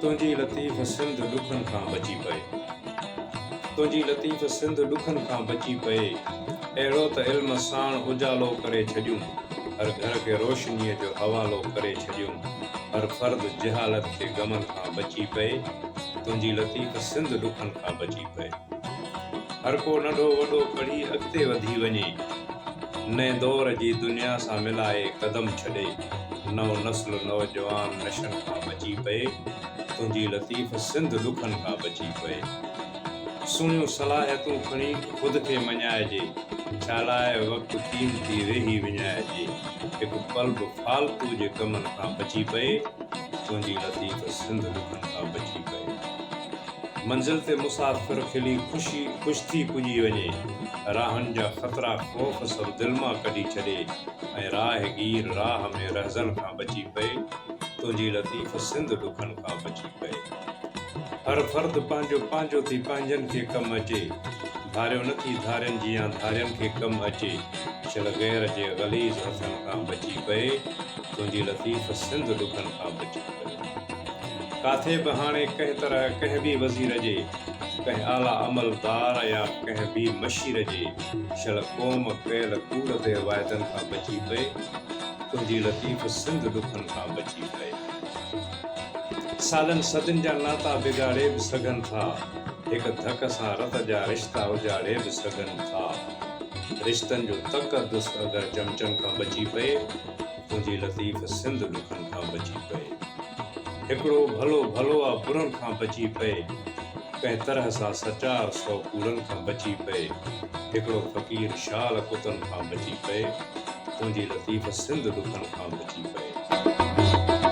تنهنجي لطيف سنڌ ڏکن کان بچي پئي تنهنجي لطيف سنڌ ڏکن کان بچي پئي اهڙو ته علم ساڻ اجالو ڪري ڇڏيون هر گهر کي روشنيء جو حوالو ڪري ڇڏيون هر فرد جهالت جي غمن کان بچي پئي تنهنجي لطيف سنڌ ڏکن کان بچي پئي هر ڪو ننڍو وڏو پڙهي اڳتي وڌي وڃي نئين دور جي دنيا سان ملائي قدم ڇڏي. نئون نسل نوجوان نشن کان بچي پئي تنهنجي لطيف سنڌ ڏکن کان بچي پئي سهڻيون صلاحيتون کڻي خود کي مڃائجي ڇالاء وقت قيمتي ويهي وڃائجي هڪ پل به فالتو جي ڪمن کان بچي پئي تنهنجي لطيف سنڌ ڏکن کان بچي پئي منزل تي مسافر کلي خوشي خوش ٿي پڄي وڃي راهن جا خطرا خوف سڀ دل مان ڪڍي ڇڏي ۽ راهگير راهه ۾ رهزن کان بچي پئي، تنهنجي لطيف سنڌ ڏکن کان بچي پئي. هر فرد پنهنجو پنهنجو ٿي پنهنجن کي ڪم اچي، ڌاريو نه ٿي ڌارين جيان ڌارين کي ڪم اچي، شل غير جي غليظ هٿن کان بچي پئي، تنهنجي لطيف سنڌ ڏکن کان بچي پئي. ڪاٿي به هاڻي ڪنهن طرح ڪنهن به وزير جي، ڪنهن اعليٰ عملدار يا ڪنهن به مشير جي شل قوم ڪيل ڪوڙ بي واعدن کان بچي پئي، تنهنجي لطيف سنڌ ڏکن کان بچي پئي. سالن صدين جا ناتا بگاڙي به سگهن ٿا، هڪ ڌڪ سان رت جا رشتا اجاڙي به سگهن ٿا. رشتن جو تقدس اگر چمچن کان بچي پئي. تنهنجي لطيف سنڌ ڏکن کان بچي پئي هڪڙو ڀلو ڀلو آ برن کان بچي پئي ڪنهن طرح سان سچار سو ڪوڙن کان بچي پئي هڪڙو فقير شال ڪتن کان بچي پئي تنهنجي لطيف سنڌ ڏکن کان بچي پئي.